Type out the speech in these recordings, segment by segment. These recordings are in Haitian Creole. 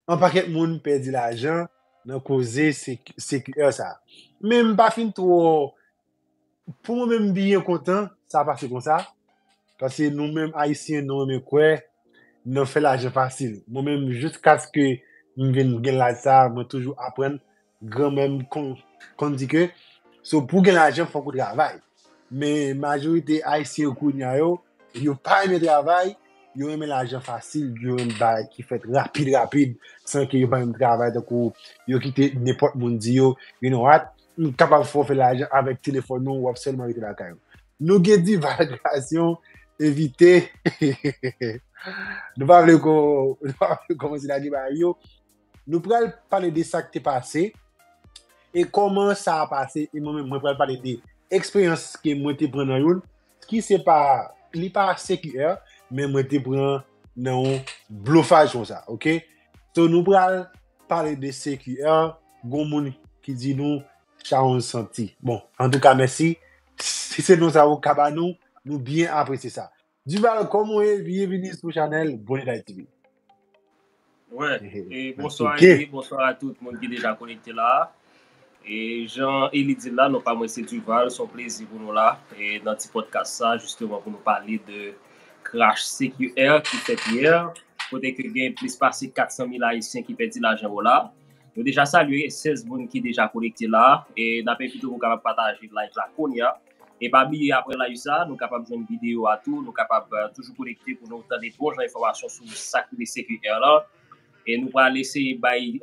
On paket moun pedi lajan nan koze CQR sa. Men m pa fin two pou mwen menm m byen kontan sa pase konsa pase nou menm ayisyen nou renmen kwe nan fe lajan fasil. Mwen menm jiskaske m vin gen laj sa mwen toujou aprann Granmè m konn di ke so pou gen lajan fòk ou travay. Men majorite ayisyen kounya yo, yo pa renmen travay, yo renmen lajan fasil, yo renmen bagay ki fèt rapid rapid san ke yo pa menm travay tankou yo kite nenpòt moun di yo, you know what, m kapab fè w fè lajan avèk telefòn ou, w ap sèlman rete lakay ou. Nou gen divalgasyon evite nou pa vle kòmanse lage bagay yo. Nou pral pale de sa k te pase e kòman sa a pase e mwen menm mwen pral pale de eksperyans ke mwen te pran nan youn ki se pa, li pa CQR men mwen te pran nan yon blofaj konsa ok. So nou pral pale de CQR, gon moun ki di nou chawonj santi. Bon, antouka mèsi, si se non sa ou ka ba nou, nou byen apresye sa. Duval kòm ou ye byenvini sou chanèl Boni Day TV. Wè, e bonswa Eli, bonswa a tout moun ki deja konekte la. E jan Eli di la, non pa mwen se Duval, son plezi pou nou la. E nan ti podcast sa, jisteman pou nou pale de crash CQR ki fèt yè, kote ke gen plis pase 400 mil ayisyen ki pèdi lajan yo la. Nou deja salye 16 moun ki deja konekte la, e n ape envite pou kapab pataje live la kounye a. E pa bliye aprè live sa nou kapab jwenn video a tou, nou kapab toujou konekte pou nou tande bon jan enfòmasyon sou sak rive CQR lan. E nou pral eseye bay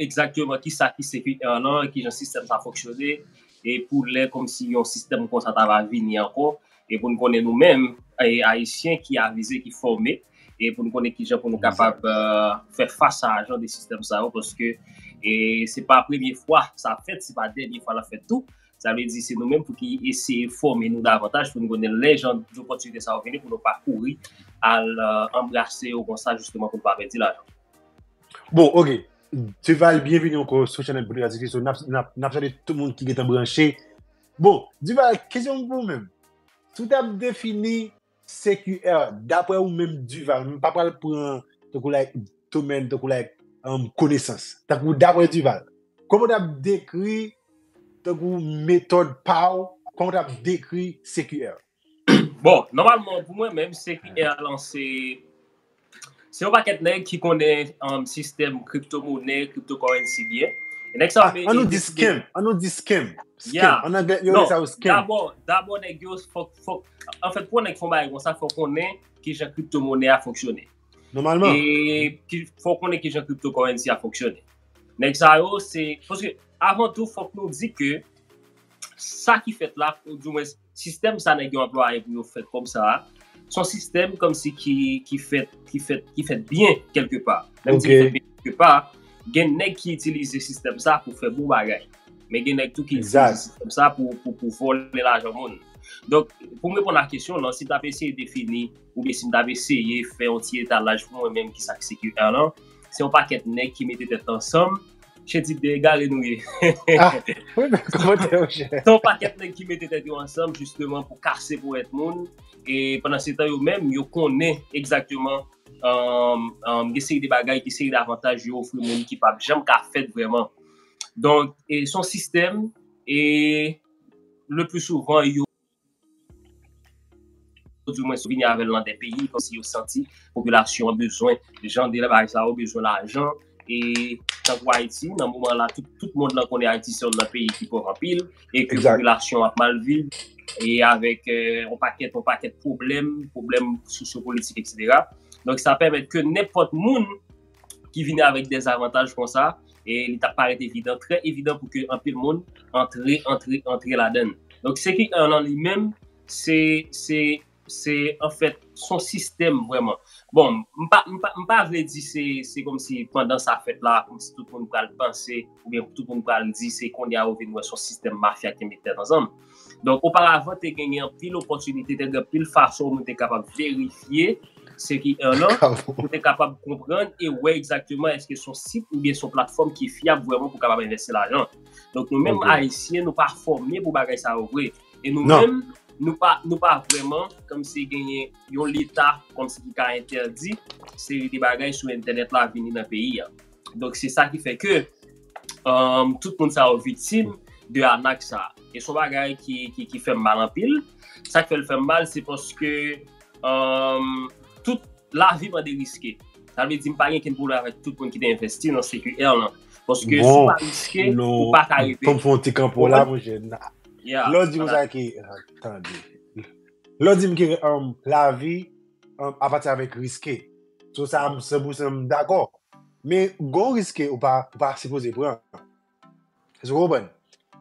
egzakteman kisa ki CQR lan, kijan sistèm sa fonksyone, e pou lè kòmsi yon sistèm konsa ta va vini ankò, e pou nou konnen nou menm ayisyen ki avize, ki fòme, e pou nou konnen kijan pou nou kapab fè fas a jan de sistèm sa yo, paske se pa premye fwa sa fèt, se pa dènye fwa l ap fèt tou. Sa vle di se nou menm pou ki eseye fòme nou davantaj pou nou konnen lè jan dopòtinite sa yo vini pou nou pa kouri al anbrase yo konsa jisteman pou nou pa pèdi lajan. Bon, ok. Duval, byenvini anko sou chanèl Boutik Atik Resto. Nap salye tout moun ki gentan branche. Bon, Duval, kesyon m pou ou menm. Si w tap defini CQR, Daprè ou menm Duval, m pa pral pran tankou like domèn, tankou like konesans. Tankou daprè Duval, kòman ou t ap dekri tankou metòd pa ou, kòman ou t ap dekri CQR? Bon, nòmalman pou mwen menm, CQR lan se Se yon pakèt nèg ki konnen sistèm kripto monè, kripto korensi byen. E nèg sa yo te. An nou di scam, an nou di scam. Scam, an anglè yo rele sa yo scam. Non, dabò, dabò nèg yo fòk, fòk, anfèt pou yon nèg fè yon bagay kon sa, fòk konnen ki jan kripto monè a fonksyone. Nòmalman. E fòk konnen ki jan kripto korensi a fonksyone. Nèg sa yo se, paske avan tou fòk nou di ke sa ki fèt la, ou di mwen. Sistèm sa nèg yo anplwaye pou yo fè kòb sa a, se yon sistèm kòmsi ki fèt, ki fèt, ki fèt byen kèlke pa. Lè m di ki fèt byen kèlke pa, gen nèg ki itilize sistèm sa pou fè bon bagay. Men gen nèg tou ki itilize sistèm sa pou vòlè lajan moun. Donk, pou m reponn a kesyon w lan, si m ta pe eseye defini oubyen si m ta pe eseye fè yon ti etalaj pou mwen menm kisa ki se QRlan, se yon pakèt nèg ki mete tèt ansanm, Che tip de egare nou ye. Ton paket neg ki mete tet yo ansanm jisteman pou kase pou et moun. E pandan se tan yo menm yo konnen egzakteman gen seri de bagay, gen seri de avantaj yo ofri moun ki pap janm ka fet vreman. Donk son sistem e le pli souvan yo. Ou di mwen sou vini avèl nan de peyi kom si yo santi popilasyon an bezwen jan de bagay sa yo bezwen lajan e tankou Ayiti nan moman la tout mond lan konnen Ayiti se yon nan peyi ki pòv anpil e ke popilasyon ap mal viv e avèk yon pakèt yon pakèt pwoblèm pwoblèm sosyo politik eksetera donk sa pèmèt ke nenpòt moun ki vini avèk dezavantaj konsa, e li ta parèt evidan, trè evidan pou ke anpil moun antre, antre, antre ladan l. Donk CQR lan li menm, se, se, se anfèt son sistèm vrèman. Bon, m pa, m pa, m pa vle di se, se kòmsi pandan sa fèt la, kòmsi tout moun pral panse, oubyen tout moun pral di se kounye a yo vin wè son sistèm mafya ki met tèt ansanm. Donk, oparavan te genyen anpil opòtinite, te gen anpil fason moun te kapab verifye se ki en an, moun te kapab konprann e wè egzakteman eske son sit ou byen son platfòm ki fyab vwèman pou kapab envèsti lajan. Donk, nou menm Ayisyen, nou pa fòme pou bagay sa yo vre. E nou menm, nou pa vwèman kòm si genyen yon leta kòm si ki ka entèdi seri de bagay sou entènèt la vini nan peyi a. Donk se sa ki fè ke tout moun sa yo viktim de anak sa. E son bagay ki fèm mal anpil. Sa k fèl fèm mal se paske tout lavi mwen de riske. Sa vle di m pa gen ken pwoblèm avèk tout moun ki te envesti nan CQR lan. Paske si w pa riske, ou pa ka rive. Bon, nou fon ti kanpo la mwen jè. Lè w di m sa ki, tande. Lè w di m ki lavi. a pati avèk riske. Sou sa m 100 pousan m dakò. Men gon riske ou pa sipoze pran. Èske ou konprann?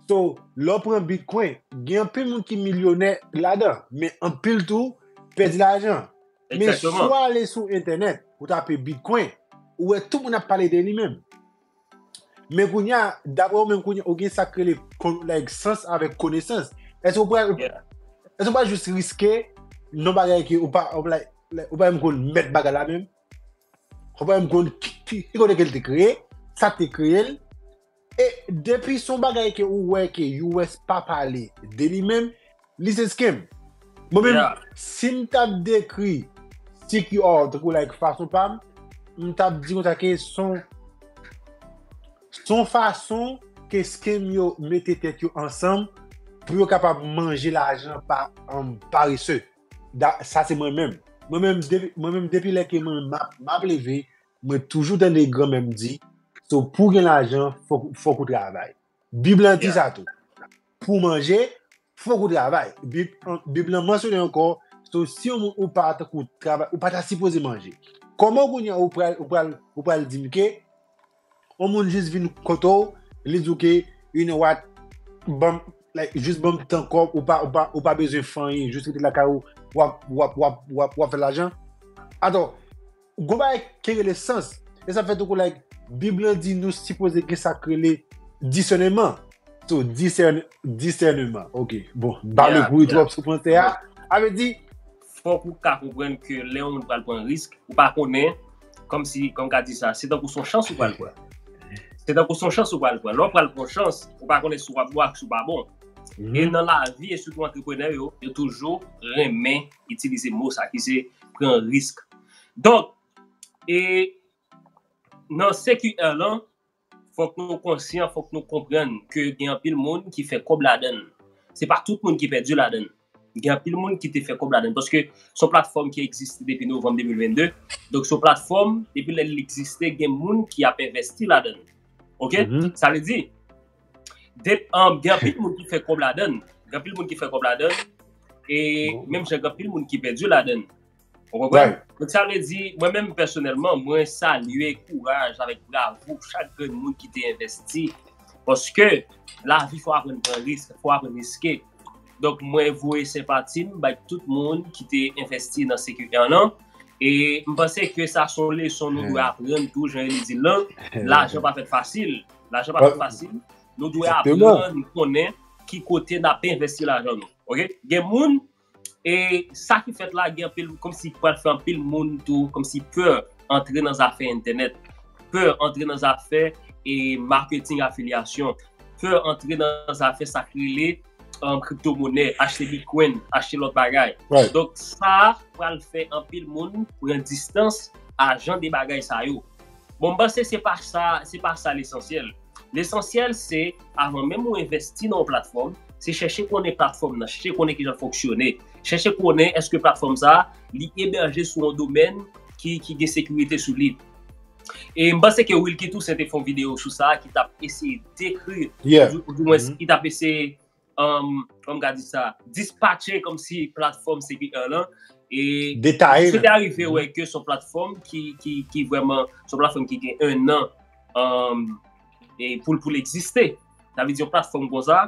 So, lè w pran bitcoin, gen anpil moun ki milyonè ladan. Men anpil tou pèdi lajan. Men si w ale sou entènèt pou w tape bitcoin, ou wè tout moun ap pale de li menm. Men kounya, dapre ou menm kounya, ou gen sak rele kon, like, sans avèk konesans. Èske ou pral, èske ou pral jis riske non bagay ke ou pa, ou like, like, ou pa menm konn mèt bagay la menm? Ou pa menm konn ki, ki, ki kote ke l te kreye, sa k te kreye l? E depi son bagay ke ou wè ke US pa pale de li menm, Listen skem, mwen menm si m tap dekri sik yo a w tankou like fason pa m, m tap di konsa ke s on s on fason ke skem yo mete tèt yo ansanm pou yo kapab manje lajan pa parese. Da sa se mwen menm. Mwen menm depi mwen menm depi lè ke mwen map map leve mwen toujou tande granmè m di se pou gen lajan fòk fòk ou travay. Bib lan di sa tou. Pou w manje, fòk ou travay. Bib lan mansyone ankò, so si yon moun ou pa tankou travay, ou pa ta sipoze manje. Kòman kounye a ou pral, ou pral, ou pral di m ke yon moun jis vin kote w, li di w ke you know what, banm, like, jis banm tan kò, ou pa, ou pa, ou pa bezwen fè anyen, jis rete lakay ou, wap, wap, wap, wap, wap fè lajan? Atò, Gon bagay ki rele sans. E sa fè tou kou like Bib lan di nou sipoze gen sa k rele disèneman. So, disèn, disèneman. Ok. Bon, m pa vle kouri twòp sou franse a. A vle di. Fòk ou ka konprann ke lè yon moun pral pran risk, ou pa konnen, kòm si, kòm m ka di sa, se tankou son chans ou pral pran. Se tankou son chans ou pral pran. Lè w pral pran yon chans, ou pa konnen si w ap bon ak si w pa bon. E nan lavi, e sitou antreprenè yo, yo toujou renmen. itilize mo sa ki se pran risk. Donk, e nan CQR lan, fòk nou konsyan, fòk nou konprann ke gen anpil moun ki fè kòb ladan l. Se pa tout moun ki pèdi ladan l. Gen anpil moun ki te fè kòb ladan l. Paske se yon platfòm ki egziste depi novanm 2022. Donk se yon platfòm, depi lè li egziste, gen moun ki ap envèsti ladan l. Ok? Sa vle di, Depann, gen anpil moun ki fè kòb ladann. Gen anpil moun ki fè kòb ladann. E menm jan gen anpil moun ki pèdi ladann. Ou konprann? Donk sa vle di, mwen menm pèsonèlman, mwen salye kouraj avèk bravo chak grenn moun ki te envesti. Paske, lavi fò aprann pran risk, fò aprann riske. Donk mwen voye senpati m bay tout moun ki te envesti nan CQR lan. E m panse ke sa son leson nou dwe aprann tou jan Eli di l lan, lajan pa fèt fasil. Lajan pa fasil, nou dwe aprann konnen ki kote n ap envesti lajan nou. Ok, gen moun, e sa ki fèt la gen anpil, kòm si pral fè anpil moun tou, kòm si pè antre nan zafè entènèt, pè antre nan zafè e marketing afilyasyon, pè antre nan zafè sa ki rele kripto monè, achte bitcoin, achte lòt bagay. Donk sa pral fè anpil moun pran distans a jan de bagay sa yo. Bon, m panse se pa sa, se pa sa lesansyèl. Lesansyèl se, avan menm ou envèsti nan yon platfòm, se chèche konnen platfòm nan, chèche konnen kijan l fonksyone, chèche konnen èske platfòm sa a, li ebèje sou yon domèn ki gen sekirite sou li. E m panse ke Wilky Toussaint te fè yon videyo sou sa ki t ap eseye dekri, ou dimwens ki t ap eseye Kòm ka di sa, dispatche kòm si platfòm CPR lan. E mwen se te arive wè ke son platfòm ki vwèman, son platfòm ki gen 1 an pou l egziste. Sa vle di yon platfòm kon sa,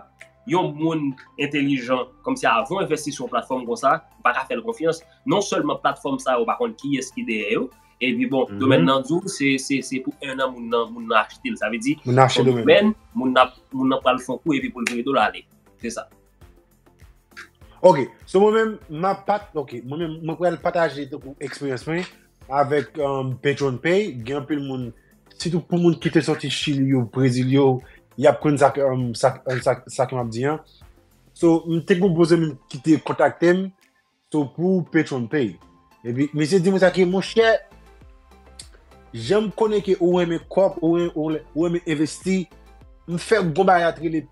yon moun entelijan kòm si avan w envesti sou yon platfòm kon sa, ou pa ka fè l konfyans. Non sèlman platfòm sa yo pa konn kiyès ki dèyè yo, Epi bon, domèn nan di ou, se pou 1 an moun nan achte l. Sa vle di, son domèn, moun nan pral fon kou epi pou l vire do l ale. Se sa. Ok, so mwen men, ma pat, ok, mwen men, mwen pral pataje te kou eksperyans mwen, avèk PetronPay, gen anpil moun, sitou pou moun ki te soti Chili yo, Brezil yo, y ap konn sa ke m ap di an. So, m te konpoze m ki te kontakte m, So pou patron m pay. Epi misye di mwen sa ke monchè janm konnen ke ou renmen kòb ou renmen envesti m fè yon bon bagay ki rele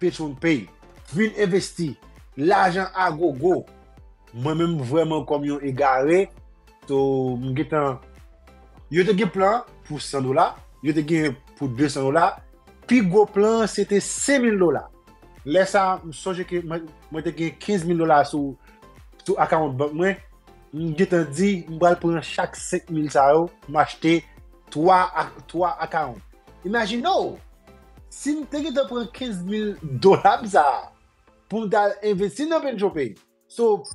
patron m pay. Vin envesti lajan a gogo. Mwen menm vrèman kòm yon egare so m gentan yo te gen plan pou 100 dola yo te gen pou 200 dola pi gwo plan se te 5000 dola Lè sa, m sonje ke mwen te gen 15 mil dola sou akawont bank mwen, m gen tan di, m pral pran chak 5 mil sa yo, m achte 3 akawont. Imajine w, si m te gen tan pran 15 mil dola m sa a, pou m ta al envesti nan PensioPay. So,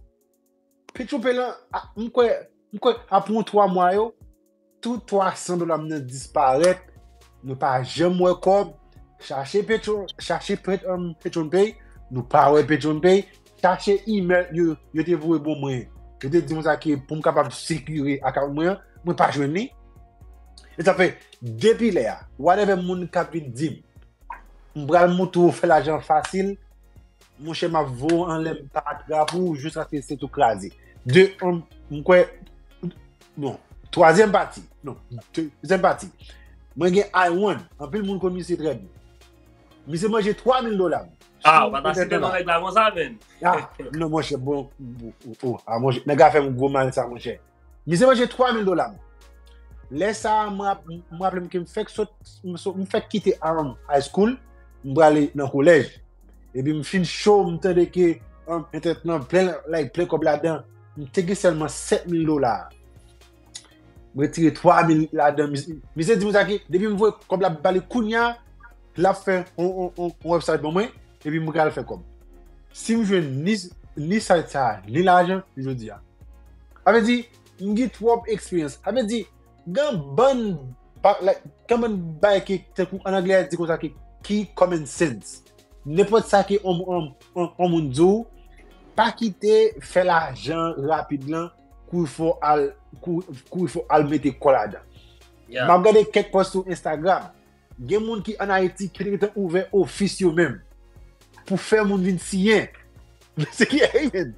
Petchoupe lan, m kwè, m kwè apre yon 3 mwa yo, tout 300 dola m nan disparèt, nou pa janm wè kòb, chache petro, chache petronpay, nou pa wè petronpay, chache email yo, yo te voye bon mwen, yo te di mwen sa ke pou m kapab sekire akawont mwen an, mwen pa jwenn li. E sa fè, depi lè a, whatever moun kap vin di m, m pral montre ou fè lajan fasil, Monchè m ap vo anlè m pa atra pou ou jiskaske se tou kraze. De, an, m kwè, bon, twazyèm pati, non, dezyèm pati, mwen gen Iwan, anpil moun kon misye trè byen. Misye manje 3000 dola m. A, w pa ta site non nèg la konsa menn. A, non monchè, bon, bon, bon, bon, a monchè, nèg la fè m gwo mal sa monchè. Mize manje 3000 dola m. Lè sa a, m raple m ke m fèk sot, m fèk kite Aran High School, m prale nan kolèj. Epi m fin cho, m tande ke entèt lan plen like, plen kòb ladan. M te gen sèlman 7000 dola. M retire 3000 ladan. Mize di m sa ke depi m voye kòb la ba li kounya, lap fè yon website pou mwen epi mwen pral fè kòb si m jwenn ni site sa ni lajan jodi a sa vle di m gen twòp eksperyans sa vle di gen bann gen bann bagay ki tankou an anglè yo di konsa ki common sense nenpòt sa ke yon moun di w pa kite fè lajan rapid lan kou l fò al kou l fò al mete kò ladan m ap gade kèk pòs sou Instagram Gen moun ki an Ayiti ki te gentan ouvè ofis yo menm pou fè moun vin siyen. Se ki a yi menm?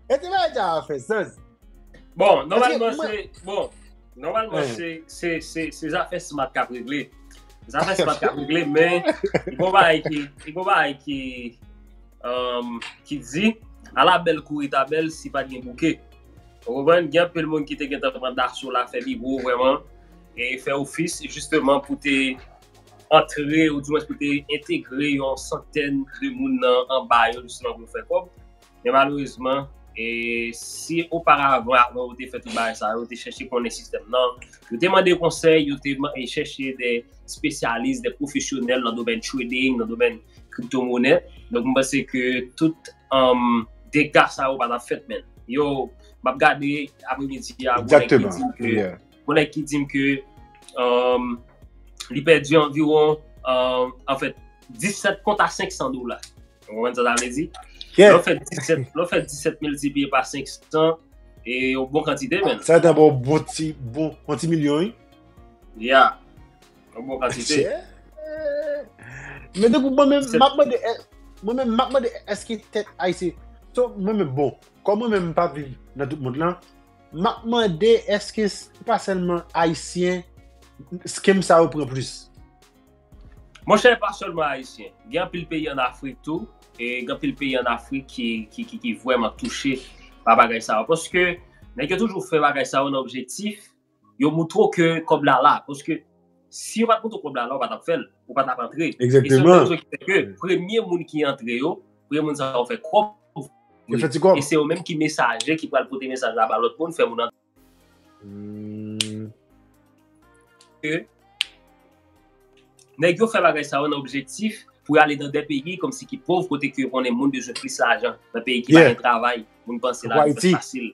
E te bay ja a fè sans. Bon, nòmalman se, bon, nòmalman se, se, se, se zafè smat kap regle. Zafè smat kap regle men, yi bon ba yi ki, yi bon ba yi ki, ki di, ala bèl kouri ta bèl si pat gen bouke. Ou konprann? Gen anpil moun ki te gentan pran daso la, fè li gwo vrèman, e fè ofis jisteman pou te antre ou dimwens pou te entegre yon santèn de moun nan anba yo jisteman pou yo fè kòb. Men malerezman, e si oparavan avan yo te fè tout bagay sa yo, yo te chèche konnen sistèm nan, yo te mande konsèy, yo te chèche de spesyalis, de pwofesyonèl nan domèn trading, nan domèn kriptomonè. Donk mwen panse ke tout dega sa yo pa tap fèt men. Yo, map gade apre midi a, gwo nèk ki dim ke li pèdi anviron, an fèt, 17 kont a 500 dola. Ou wè sa sa vle di? Lè ou fè 17, lè ou fè 17 miltipliye pa 500, e yon bon kantite men. Sa ta ba ou bon ti, bon, bon ti milyon yi? Ya. Yon bon kantite. Men de pou mwen men, map mwen de, mwen men map mwen de, eske tèt ayisyen, so mwen men bon, kon mwen men mpa viv nan tout moun lan, map mwen de eske se pa selman ayisyen, skem sa yo pran plis. Mwen chè pa selman ayisyen, gen pil peyi an Afrik tou, e gen pil peyi an Afrik ki, ki, ki vwèman touche pa bagay sa yo, paske nèg yo toujou fè bagay sa yo nan objektif yo moutre'w ke kòb la la, paske si yo pat moutre'w kòb la la ou pa tap fè'l, ou pa tap antre, e se yon rezon ki fè ke premye moun ki antre yo, premye moun sa yo fè kòb, e se yo menm ki mesaje ki pral pote mesaj la ba lòt moun fè moun antre. Ke nèg yo fè bagay sa yo nan objektif pou yo ale nan de peyi kòmsi ki pov kote ke yo konnen moun bezwen plis lajan, nan peyi ki pa gen travay, moun panse lavi fasil.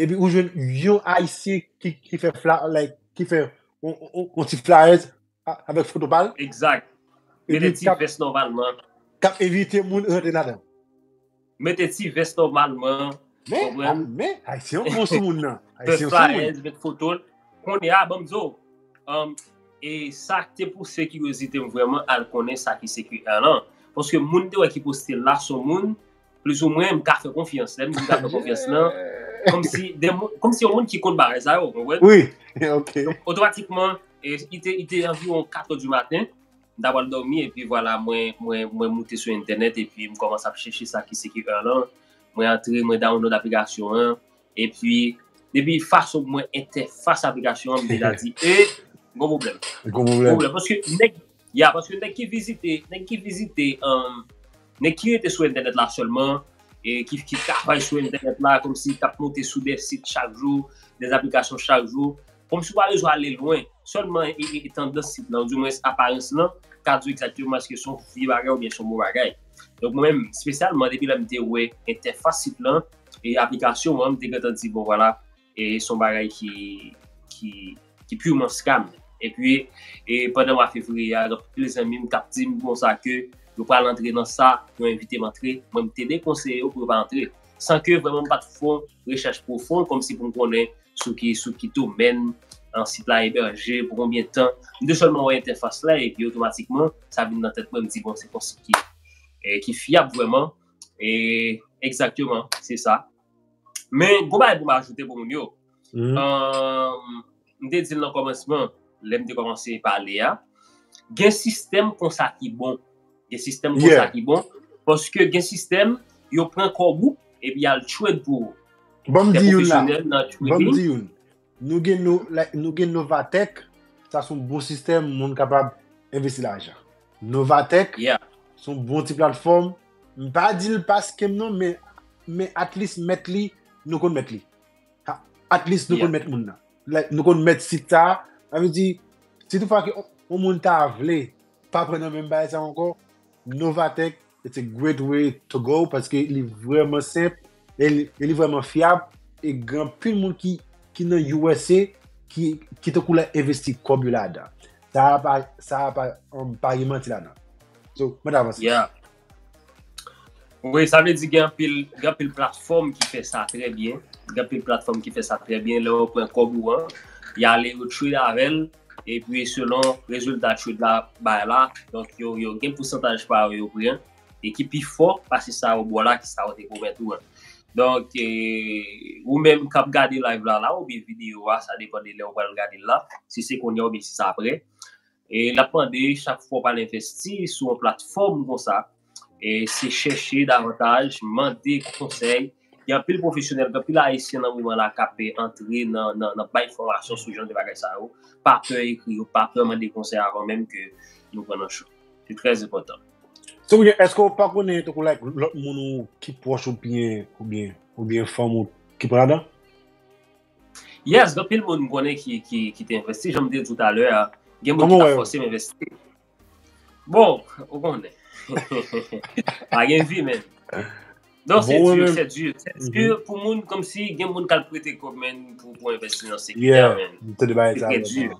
Epi ou jwenn yon ayisyen ki fè fla, like, ki fè yon ti flayèz avèk foto pa l. Egzak. Mete ti vès nòmalman. K ap evite moun rantre ladan. Mete ti vès nòmalman. Men, men, ayisyen yo bon sou moun nan. Fè flayèz, met foto l. Kounye a, ban m di w, e sa k te pouse kiryozite m vrèman al konnen sa ki CQL lan. Paske moun te wè ki poste l la s on moun Plis ou mwen, m ka fè konfyans. Lè m di m ka fè konfyans lan, kòm si yon moun ki konn bagay sa yo, konpwen? Oui, ok. Otomatikman, i te anviron 4 ou di maten, m ta pral dòmi, e pi vwala mwen moute sou entènèt, e pi m kòmanse ap chèche sa ki se ki èr lan, mwen antre, mwen download aplikasyon an, e pi, depi fason mwen entèfas aplikasyon an, m deja di, e, gwo pwoblèm. Gwo pwoblèm. Gwo pwoblèm, paske nèg. Ya paske nèg ki vizite, nèg ki vizite, nèg ki rete sou entènèt la sèlman, ki travay sou entènèt la kòmsi kap monte sou dè sit chak jou, dè aplikasyon chak jou, kòmsi ou pa bezwen ale lwen, sèlman tandans sit la, ou di mwens aparans lan, ka di w egzakteman eske son vye bagay oubyen son bon bagay. Donk mwen menm, spesyalman depi lè m te wè entèfas sit lan, e aplikasyon an, m te gentan di bon vwala, E se yon bagay ki purement scam. E pi, pandan mwa fevriye a, gen anpil de zanmi m k ap di m konsa ke yo pral antre nan sa, yo envite m antre. Mwen m te dekonseye yo pou yo pa antre. San ke vrèman m pa t fon rechèch pwofon kòm si pou m konnen sou ki domèn sit la eberje, pou konbyen tan. M te sèlman wè entèfas la e pi otomatikman, sa vin nan tèt mwen, m di bon, se yon sit ki fyab vrèman. E, egzakteman, se sa. Men, gwo bagay pou m ajoute pou moun yo. M te di l nan kòmansman, lè m te kòmanse pale a, gen sistèm konsa ki bon. Gen sistèm konsa ki bon. Paske gen sistèm, yo pran kòb ou, epi y al trade pou ou. Bon m di youn la. Bon m di youn. Nou gen no, like, nou gen Novatec, sa son bon sistèm moun kapab envesti lajan. Novatec, Yeah. son bon ti platfòm. M pa di l pa scam non, men, men at least mèt li, nou konn mèt li. Ha, At least nou Yeah. konn mèt moun nan. Like, nou konn mèt sit sa. Sa vle di, si tout fwa ke on moun ta vle pa pran nan menm bagay sa ankò, Novatec it's a great way to go paske li vreman senp e li vreman fyab e gen anpil moun ki nan usa ki te kou la envesti kob yo ladan sa a pa sa a pa um, pa gen manti ladan so mwen ta avanse yeah wi sa vle di gen anpil gen anpil platfòm ki fè sa trè byen gen anpil platfòm ki fè sa trè byen lè yo pran kob ou an y ale yo trade avèl epi selon rezilta trade la bay la, donk yo gen pousantaj pa yo yo pran e ki pi fò pase sa yo ba w la ki sa yo te pwomèt ou an. Donk, ou menm k ap gade live la la oubyen videyo a, sa depan de lè ou pral gade l la, si se kounye a oubyen si se aprè, l ap mande chak fwa w pral envesti sou yon platfòm konsa, e se chèche davantaj, mande konsèy, gen anpil pwofesyonèl, gen anpil ayisyen nan moman la kap antre nan bay fòmasyon sou jan de bagay sa yo, pa pè ekri yo, pa pè mande konsèy avan menm ke nou pran nan cho, se trè enpòtan. Eske ou pa konnen tankou like lòt moun ou ki pwòch ou byen oubyen oubyen fanm ou ki pran ladan? Yes, gen anpil moun m konnen ki te envesti, janm te di w talè a, gen moun ki ta fòse m envesti. Bon, ou konnen. Pa gen vi men. Non, se dur, se dur. Se mhm. dur pou moun kom si gen moun kal prete kob men pou pou investi nan sekte a men. Se tre dur.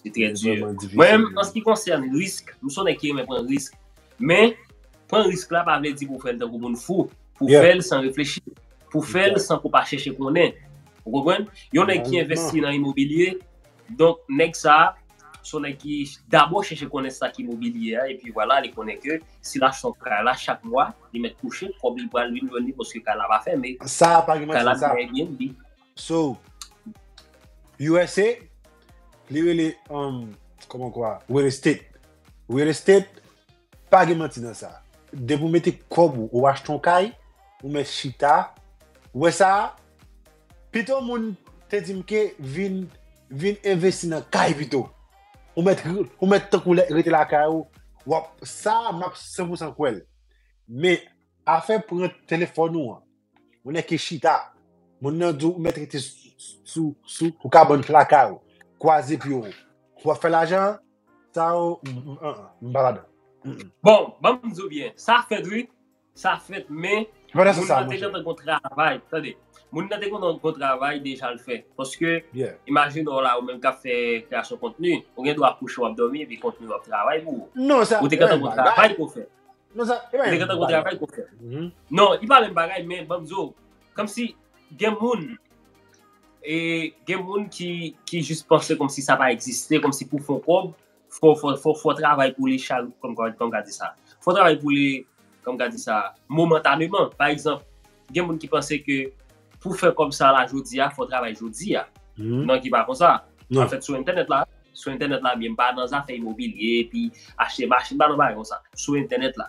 Se tre dur. Mwen, an se ki konsern risk, mwen son ek yon men pren risk. Men, pren risk la pa vle di pou fèl tan pou moun fou. Pou fèl san reflechi. Pou fèl san pou pa chèche konen. Ou konpwen? Yon ek ki investi nan imobilye, Donk nèg sa a, se yon nèg ki dabò chèche konnen sa ki mobilye a epi vwala li konnen ke si l achte kay la chak mwa li mèt kouche, kòb li pral vin jwenn li paske kay la pa fèmen, kay la nan Airbnb. So, usa, li rele, kòman w kwa, real estate. Real estate. Pa gen manti nan sa. Depi w mete kòb ou, ou achte yon kay, ou mèt chita. Ou wè sa a? Pito moun te di m ke vin vin envesti nan kay pito. Ou mèt ou mèt tankou lè rete lakay ou, w ap sa a m ap san pou san kwè l. Men, afè pran telefòn ou an, Moun nèg ki chita. Moun nan di w mèt rete sou kabann plaka yo. Kwaze pye w. Pou w ap fè lajan an. Sa yo, m pa ladan. Bon, ban m di w byen. Sa fèt wi. Sa fèt men. Moun nan te gentan gon travay. Tande. Moun nan te gentan gon travay deja l fè. Paske, imajine w la ou menm k ap fè kreyasyon kontni. Ou gen dwa kouche w ap dòmi epi kontni w ap travay pou ou. Ou te gentan gon travay pou w fè. Non, sa, e bagay. Nèg antan kontra bay kontra. Non, e pa menm bagay, men banm di ou, kòm si gen moun, e gen moun ki, ki jis panse kòm si sa pa egziste, kòm si pou fon kòb, fò, fò, fò, fò travay pou li chal, kòm, kòm ka di sa. Fò travay pou li, kòm ka di sa, momentaneman. Pa egzanp, Gen moun ki panse ke pou fè kòb sa la jodi a, fò w travay jodi a. Non ki pa konsa. An fèt sou entènèt la, sou entènèt la byen, m pa nan zafè imobilye epi achte machin, m pa nan bagay konsa. Sou entènèt la,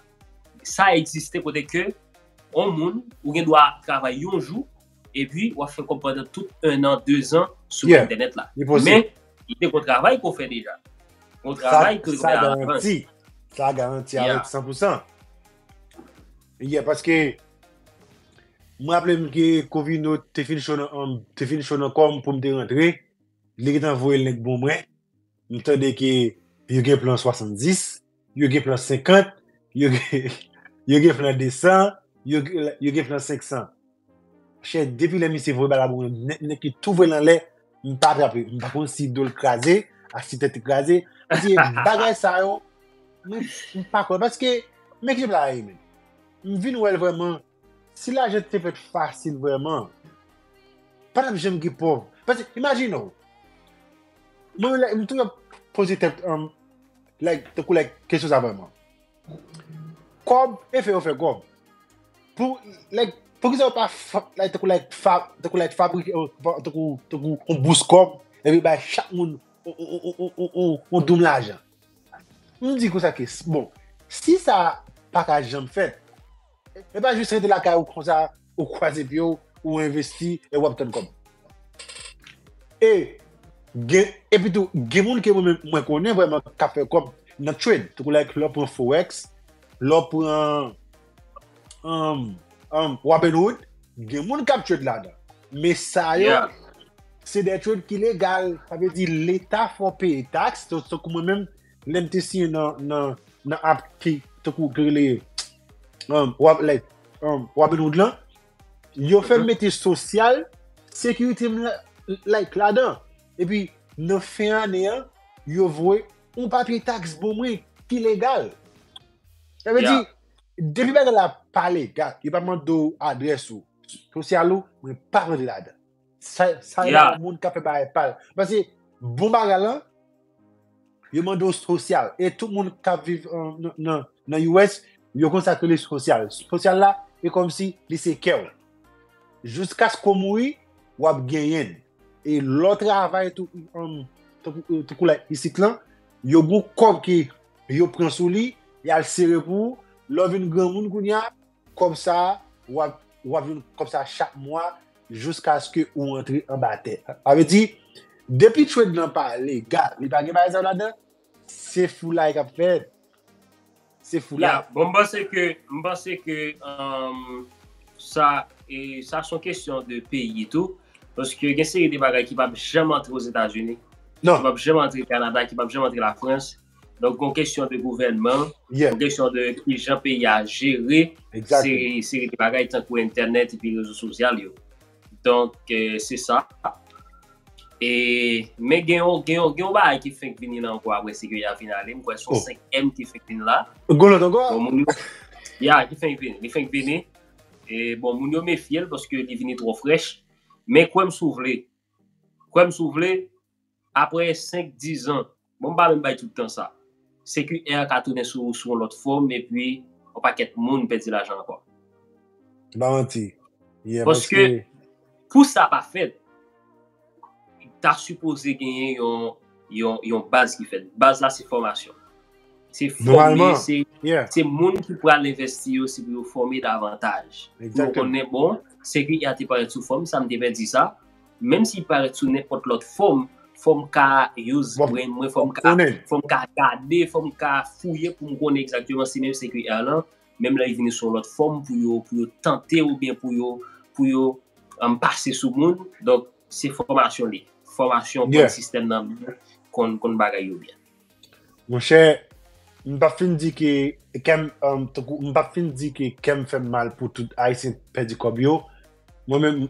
sa egziste kote ke yon moun, ou gen dwa travay yon jou epi w ap fè kòb pandan tout ennan, dezan sou entènèt la. Li posib. Men, li gen yon travay pou w fè deja. Yon travay ke l fè a lavan. Sa garanti. Sa garanti avèk san pou san. Yeah paske m raple m ke Covino te fin cho nan anm, te fin cho nan kò m pou m te rantre, li gentan voye l nèg bon mwen, m tande ke yo gen plan 70, yo gen plan 50, yo gen plan 200, yo gen plan 500. Chè depi lè misye voye bal la pou mwen nèt nèt li tou vole anlè m pa atrape m pa konn si dol kraze ak si tèt li kraze paske bagay sa yo mwen m pa kwè paske men ki pla ye men m vin wèl vrèman si lajan te fèt fasil vrèman pa tap janm gen pòv paske imajine w mwen m toujou ap poze tèt m like tankou like kesyon sa vrèman. Kob e fe yo fe kob. Pou like pou kisa yo pa like tankou like fab tankou like fabrike yo tankou tankou yon bous kob epi bay chak moun yon doum lajan. M di konsa ke bon si sa paka janm fèt. E pa jis rete lakay ou konsa, ou kwaze pye ou, ou envesti, e wap tann kòb. E, gen, epi tou, gen moun ke mwen mwen konnen vreman ka fè kòb nan trade. Tankou like lè w pran forex, lè w pran um, um, robinhood, gen moun kap trade ladan. Men sa yo, se de trade ki legal. Sa vle di leta fè w peye tax, tankou mwen menm, Lem te siyen nan nan nan app ki tankou ki rele um wap like um Robinhood lan, yo fèm mete sosyal, sekirite m la like ladan. Epi nan fen ane an, yo voye yon papye taks bon mwen ki legal. Sa vle di, Yeah. depi bagay la pa legal, yo pa mande w adrès ou, sosyal ou, mwen pa mande ladan. Sa yon yeah. moun ka fè bagay pal. Pase bon bagay lan, yo mande w sosyal. E tout moun ka viv nan US, yo konn sa k rele sosyal. Sosyal la, e kòm si li se kè w. Jouskas ke w mouri, w ap genyen. E lè w travay tou, tankou lè isit lan, yo gon kòb ke yo pran sou li, y al sere pou ou, lè w vin granmoun kounya, Kòb sa a, ou ap jwenn kòb sa a chak mwa jouskaske ou antre anba tè. Sa vle di, depi trade lan pa legal, li pa gen bagay sa yo ladan, se foulay k ap fèt. Se foulay. Ya, bon m panse ke, m panse ke sa, sa s on kesyon de peyi tou. Paske gen seri de bagay ki p ap janm antre Ozetazini. Non. Ki p ap janm antre Kanada, ki p ap janm antre Lafrans. Donk gon kesyon de gouvènman, gon kesyon de ki jan peyi a jere seri de bagay tankou entènèt epi rezo sosyal yo. Donk se sa. E men gen yon bagay ki fenk vini la ankò apre se ke ya vin ale, m kwè son 5 èm ki fenk vini la. Gon lòt ankò? Bon moun yo, ya ki fenk vini, li fenk vini. E bon moun yo mefye l paske li vini twò frèch. Men kwè m si w vle, kwè m si w vle. Aprè 5, 10 zan, bon m pa menm bay tout tan sa, CQR ka tounen sou ou sou yon lòt fòm epi yon pakèt moun pèdi lajan ankò. Se pa manti. Yeah, paske. Paske pou sa pa fèt, ta sipoze genyen yon, yon baz ki fèt. Baz la se fòmasyon. Se fòme, se, se moun ki pral envèsti yo se pou yo fòme davantaj. Pou yo konnen bon, CQR te parèt sou fòm sa, m te pèdi sa. Menm si li parèt sou nenpòt lòt fòm, fò m ka use brenn mwen, fò m ka konnen, fò m ka gade, fò m ka fouye pou m konnen egzakteman si menm CQR lan, menm lè li vini sou yon lòt fòm pou yo, pou yo tante ou byen pou yo, pou yo pase sou moun. Donk, se fòmasyon li. Fòmasyon pou yon sistèm nan konn, konn bagay yo byen. Mon chè, m pa fin di ke kè m, tankou, m pa fin di ke kè m fè m mal pou tout Ayisyen pèdi kòb yo. Mwen menm.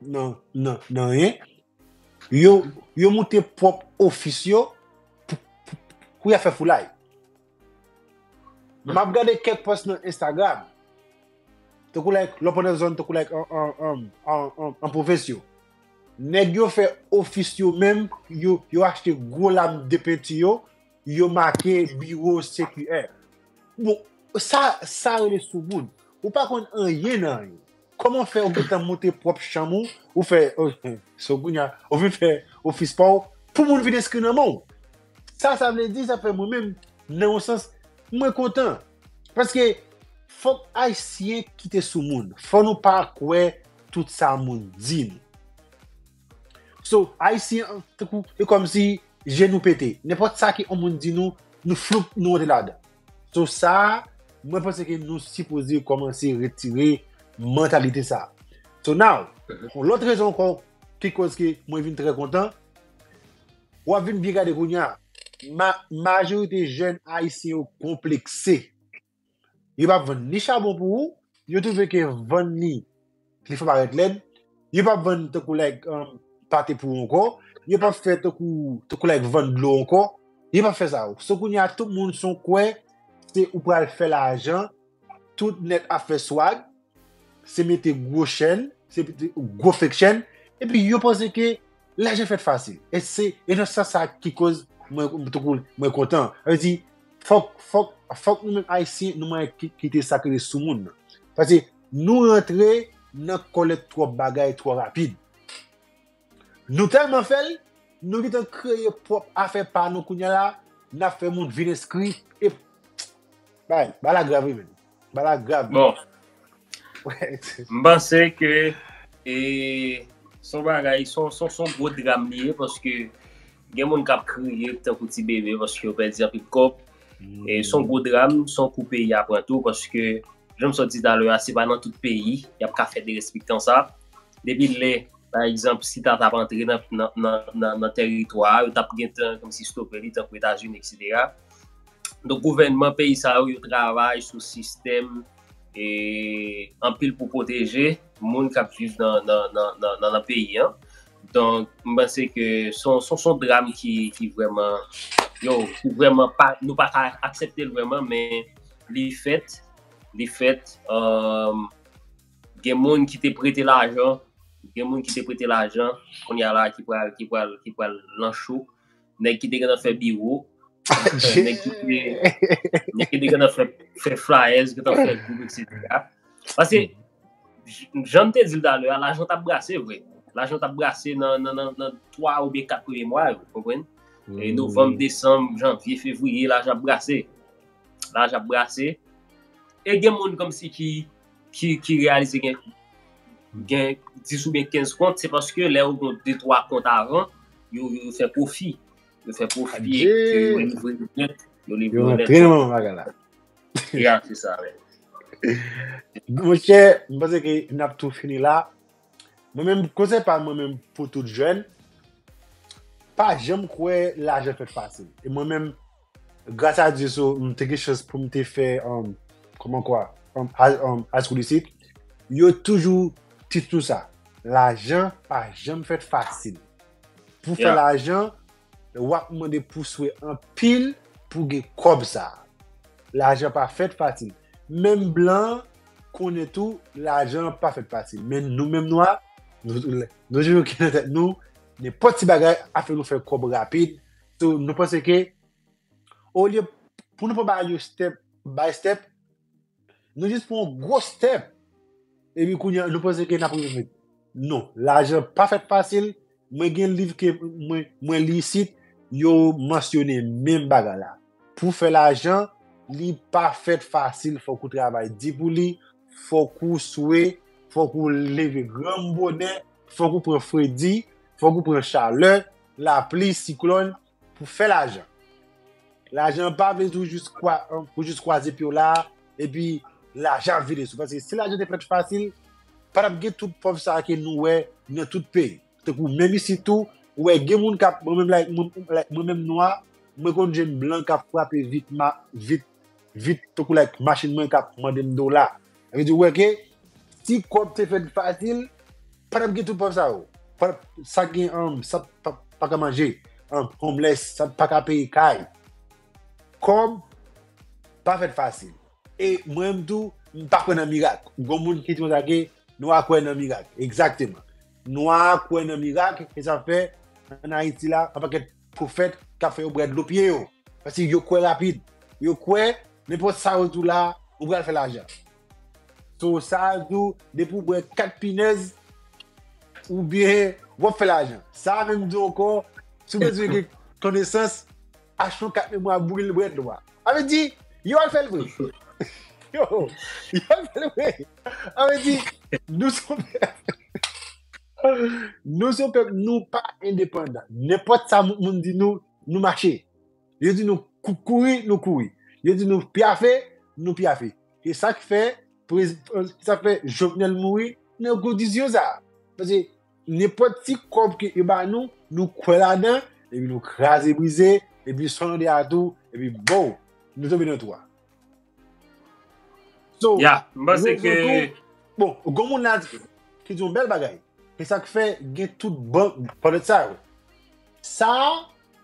nan yen, yo moute pwòp ofis yo pou ya fè foulay. Map gade kèk pòs nan Instagram, te kou like lò pwòp nan zòn, te kou like an pwovens yo. Nèg yo fè ofis yo menm, yo achte gwo lam de penti yo, yo make biwo CQR. Bon, sa rele sou moun. Ou pa konn an yen nan yen. Koman fè ou gentan monte pwòp chanm ou, ou fè so kounya ou vin fè ofis pa ou pou moun vin enskri nan men'w? Sa sa vle di sa fè mwen menm nan yon sans mwen kontan paske fòk ayisyen kite sou moun fò nou pa kwè tout sa moun di nou so ayisyen tankou e kòmsi je nou pete nenpòt sa ke yon moun di nou nou floup nou rantre ladan. So sa, mwen panse ke nou sipoze komanse retire mantalite sa. So now, pou lòt rezon kon, ki koz ke mwen vin trè kontan, wap vin byen gade kounye a, majorite jèn ayisyen yo konplekse. Yo pa vann ni chabon pou ou, yo twouve ke vann li, li fè parèt lèd, yo pap vann tankou like pate pou ou ankò, yo pap fè tankou like vann dlo ankò, yo pap fè sa yo. So kounye a tout moun son kwè se ou pral fè lajan, tout nèt ap fè swag, se mete gwo chèn, se mete gwo fek chèn, epi yo panse ke lajan fèt fasil. E se e nan sans sa ki koz mwen tankou mwen kontan. Sa vle di fòk nou menm ayisyen nou manyen kite sa ki rele soumoun nan. Pase Nou rantre nan kolèt twòp bagay twò rapid. Nou tèlman fè l, nou gentan kreye pwòp afè pa nou kounya la, n ap fè moun vin enskri e Bagay la grav wi menn. Bagay la grav. Bon, m panse ke e s on bagay, s on gwo dram li ye paske Gen moun kap kriye tankou ti bebe paske yo pèdi anpil kòb. E son gwo dram, son kou peyi a pran tou paske janm sot di talè a se pa nan tout peyi yap ka fè derespektan sa. Depi lè pa egzanp si ta tap antre nan tèritwa a yo tap gentan kòmsi stope li tankou Etazini eksetera. Donk gouvènman peyi sa yo yo travay sou sistèm e anpil pou pwoteje moun kap viv nan peyi an. Donk, m panse ke s on dram ki vrèman, yo, ki vrèman pa, nou pa ka aksepte l vrèman men li fèt, li fèt, gen moun ki te prete lajan, gen moun ki te prete lajan, kounya la ki pral, ki pral, ki pral nan cho. nèg ki te gana fè biwo, nèg ki te gana fè flyers, ki te gana fè group, etc. Pase, janm te zil dalè, la jant ap brase vre. La jant ap brase nan 3 ou 4 premye mwa, konpwen? Novam, Desam, Janvye, Fevriye, la jant ap brase. La jant ap brase. E gen moun kom si ki ki realize gen 10 ou gen 15 kont, se paske lè ou gen 2-3 kont avan, yo fè profi. Yo fè profi, yo livre yon net. Yo rentre nan yon bagay la. Ya, se sa. Mwen chè, mwen panse ke n ap tou fini la. Mwen menm, konsey pa mwen menm pou tout jèn, pa janm kwè lajan fèt fasil. E mwen menm, Gras a Dye so m te gen chans pou m te fè um kòman kwa um high um high school isit. Yo toujou teach nou sa. Lajan pa janm fèt fasil. Pou fè Yeah. lajan, w ap mande pou swe anpil pou gen kòb sa. Lajan pa fèt fasil. Menm blan konnen tou lajan pa fèt fasil. Men nou menm nwa, nou nou toujou gen nan tèt nou, nenpòt ti bagay ap fè nou fè kòb rapid. So, nou panse ke, olye pou nou pa bay yo step by step, nou jis pran yon gwo step, epi kounye a nou panse ke n ap rive. Non, lajan pa fèt fasil, mwen gen liv ke mwen li isit, yo mansyone menm bagay la. Pou fè lajan, li pa fèt fasil, fòk ou travay di pou li, fòk ou swe, fòk ou leve granm bonè, fòk ou pran fredi, fòk ou pran chalè, Lapli, siklòn, pou fè lajan. Lajan pa vle di ou jis kwaze pye w la a, epi lajan ap vini sou ou. Paske si lajan te fèt fasil, pa t ap gen tout pòv sa a ke nou wè nan tout peyi. Tankou menm isit tou, ou wè gen moun k ap, mwen menm like mwen menm nwa, mwen konn jwenn blan k ap frape vit. vit tankou like machin mwen kap mandem dola epi di wè ke si kob te fèt fasil patap gen tout pranb sa yo patap sa gen an sa paka manje an homeless sa paka peye kay kob pa fèt fasil e mwen menm tou m pa kwè nan mirak gon moun ki di konsa ke nwa kwè nan mirak egzakteman nwa kwè nan mirak e sa fè an ayiti la an pakèt pwofèt k ap fè yo bwè dlo pye yo. Paske yo kwè rapid. Yo kwè nenpòt sa yo di w la, ou pral fè lajan. So sa a di w depi w bwè 4 pinèz oubyen w ap fè lajan. Sa a menm di w ankò si w bezwen gen konesans, achte yon kat memwa bouril bwè dlo a. Sa vle di, yo al fè l vre. Yo al fè l vre. Sa vle di, nou sou. Nou se yon pèp, nou pa endepandan. Nenpòt sa moun di nou, nou mache. Yo di nou kouri, nou kouri. Yo di nou pyafe, nou pyafe. E sa k fè, sa fè Jovenel mouri nan kondisyon sa. Pase nenpòt ti kòb ke yo ba nou, nou kwè ladan, epi nou kraze brize, epi sòlande a tou, epi bow, nou tonbe nan twou a. So, Ya, m panse rezon ke... tou, bon, gon moun la di, ki di yon bèl bagay. Se sa k fè gen tout ban pwèt sa yo. Sa a,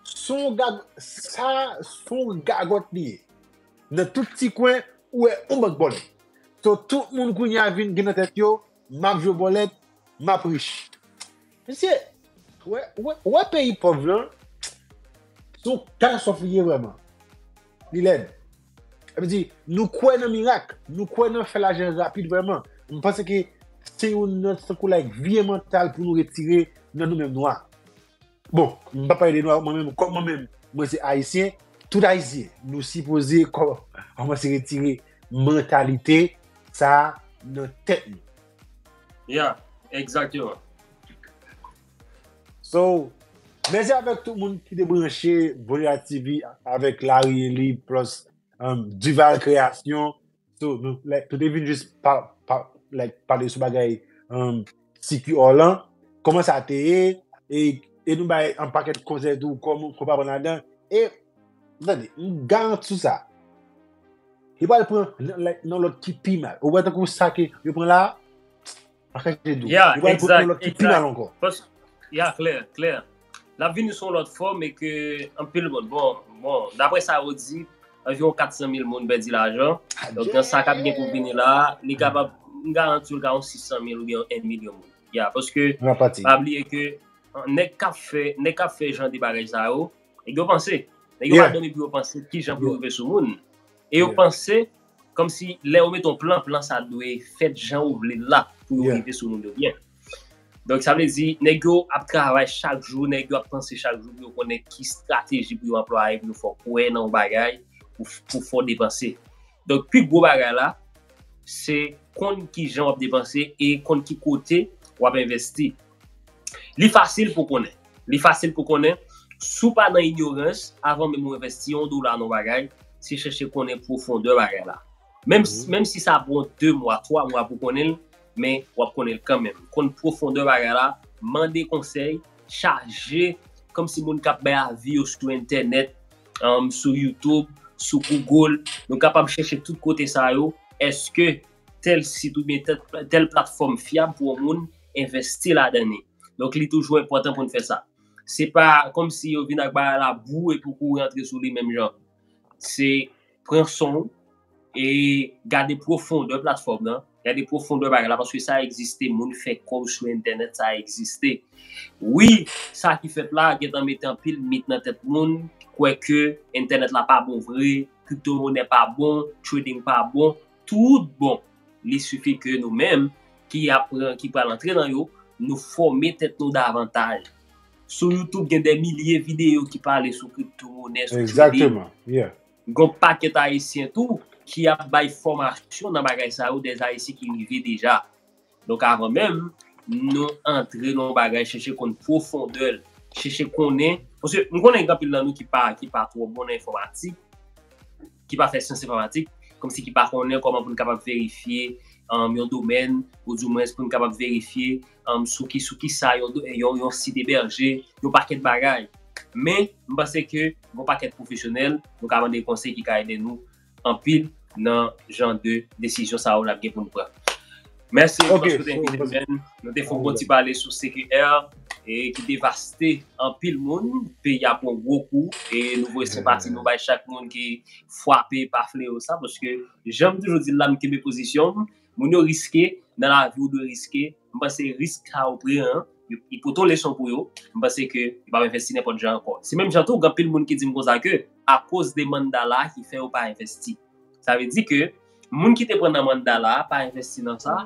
son gag, sa a, son gagòt li ye. Nan tout ti kwen, ou wè yon bank bòlèt. So, tout moun kounye a vin gen nan tèt yo, m ap jwe bòlèt, m ap rich. Misye, ou wè peyi pòv lan, se yon katastwòf li ye vrèman. Li lèd. Sa vle di, nou kwè nan mirak, nou kwè nan fè lajan rapid vrèman. M panse ke se yon nan tankou like vye mantal pou nou retire nan nou menm nwa. Bon, m pa pale de nwa, mwen menm, kòm mwen menm, mwen se ayisyen, tout ayisyen, nou sipoze kòmanse retire mantalite sa a nan tèt nou. Yeah, exactement. So, mèsi avèk tout moun ki te branche Voya TV avèk Larry Eli plus um, Duval Création. So, nou, like, nou te vin jis pa, pa, like, pale sou bagay um, Siki Orlan, koman sa te ye, e, e nou bay an pakèt konsèy tou, koman, koman pa pran ladan, e, tande, m garanti sou sa, Li pral pran nan lòt ki pi mal. Ou wè tan kou sa ke yo pran la, pa kèk te dou. Li pral pran nan lòt ki pi mal ankò. Ya, klè, klè. Lap vini sou lòt fòm e ke anpil moun. Bon, bon, dapre sa yo di, anviron 400 mil moun pèdi lajan. Donk nan sa kap gen pou vini la, li kapab, m garanti ou l ka yon 600 mil oubyen yon 1 milyon moun. Ya, paske, pa bliye ke, nèg kap fè, nèg kap fè jan de bagay sa yo, Nèg yo panse. Nèg yo pa dòmi pou yo panse ki jan pou yo rive sou moun. E yo panse, kòm si lè yo met yon plan, plan sa dwe fèt jan ou vle l la pou yo rive sou moun yo byen. Donk sa vle di, nèg yo ap travay chak jou, nèg yo ap panse chak jou pou yo konnen ki estrateji pou yo anplwaye pou yo fè w kwè nan yon bagay, pou fè w depanse. Donk pi gwo bagay la, se konn ki jan w ap depanse e konn ki kote w ap envesti. Li fasil pou konnen. Li fasil pou konnen. Si w pa nan inyorans, avan menm ou envesti yon dola nan yon bagay, se chèche konnen pwofondè bagay la. Menm si sa pran 2 mwa, 3 mwa pou w konnen l, men w ap konnen l kanmenm. Konn pwofondè bagay la, mande konsèy, chaje kòmsi moun k ap bay avi yo sou entènèt, sou youtube, sou google, nou kapab chèche tout kote sa yo, èske. tèl sit oubyen tèl platfòm fyab pou yon moun envèsti ladan li. Donk li toujou enpòtan pou n fè sa. Se pa kòmsi yo vin ak bagay la bou epi w kouri antre sou li menm jan. Se pran son w e gade pwofondè platfòm nan, gade pwofondè bagay la paske sa egziste, moun fè kò yo sou entènèt, sa egziste. Wi, sa ki fèt la gentan mete anpil mit nan tèt moun ki kwè ke entènèt la pa bon vre, kriptomonè pa bon, trading pa bon. tout bon, li sifi ke nou menm ki ap pran, ki pral antre nan yo, nou fòme tèt nou davantaj. Sou YouTube gen dè milye videyo ki pale sou kripto monè, sou trading. Gon pakèt ayisyen tou ki ap bay fòmasyon nan bagay sa yo, dè ayisyen ki rive deja. Donk avan menm nou antre nan yon bagay chèche konn pwofondè l, chèche konnen, paske m konnen gen anpil nan nou ki pa twò bon nan enfòmatik, ki pa fè syans enfòmatik, kòmsi ki pa konnen kòman pou n kapab verifye yon domèn, ou di mwens pou n kapab verifye sou ki sa yon sit ebèje, yon pakèt bagay. Men, m panse ke gen yon pakèt pwofesyonèl nou ka mande konsèy ki ka ede nou. anpil nan jan de desizyon sa yo nap gen pou nou pran. Mèsi anpil paske ou te envite nou men. Nou te fè yon bon ti pale sou CQR e ki devaste anpil moun. Peyi a pran yon gwo kou e nou voye senpati nou bay chak moun ki fwape pa fleyo sa paske janm toujou di la m kenbe pozisyon m. Moun yo riske, nan lavi ou dwe riske, m panse risk sa ou pran an, li pote yon leson pou yo, m panse ke yo pap envesti nenpòt jan ankò. Se menm jan tou gen anpil moun ki di m konsa ke akoz de mandala a ki fè yo pa envesti. Sa vle di ke moun ki te pran nan mandala a pa envesti nan sa,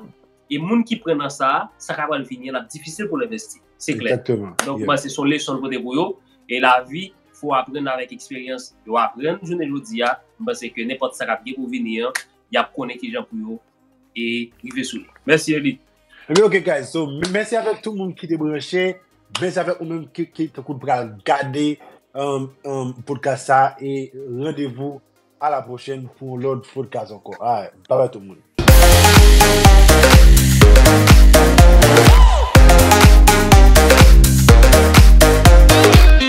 e moun ki pran nan sa, sa ka pral vini an ap difisil pou l envesti. Se klè. Donk m panse se yon leson l pote pou yo, e lavi fò aprann avèk eksperyans, yo aprann jounen jodi a, m panse ke nenpòt sa k ap gen pou vini an, yap konnen kijan pou yo e rive sou li. Mèsi Eli. Ebyen ok guys, so mèsi avèk tout moun ki te branche, mèsi avèk ou menm ki tankou pral gade podcast sa e randevou a la pwochèn pou yon lòt podcast ankò. Alright, bye bye tout moun.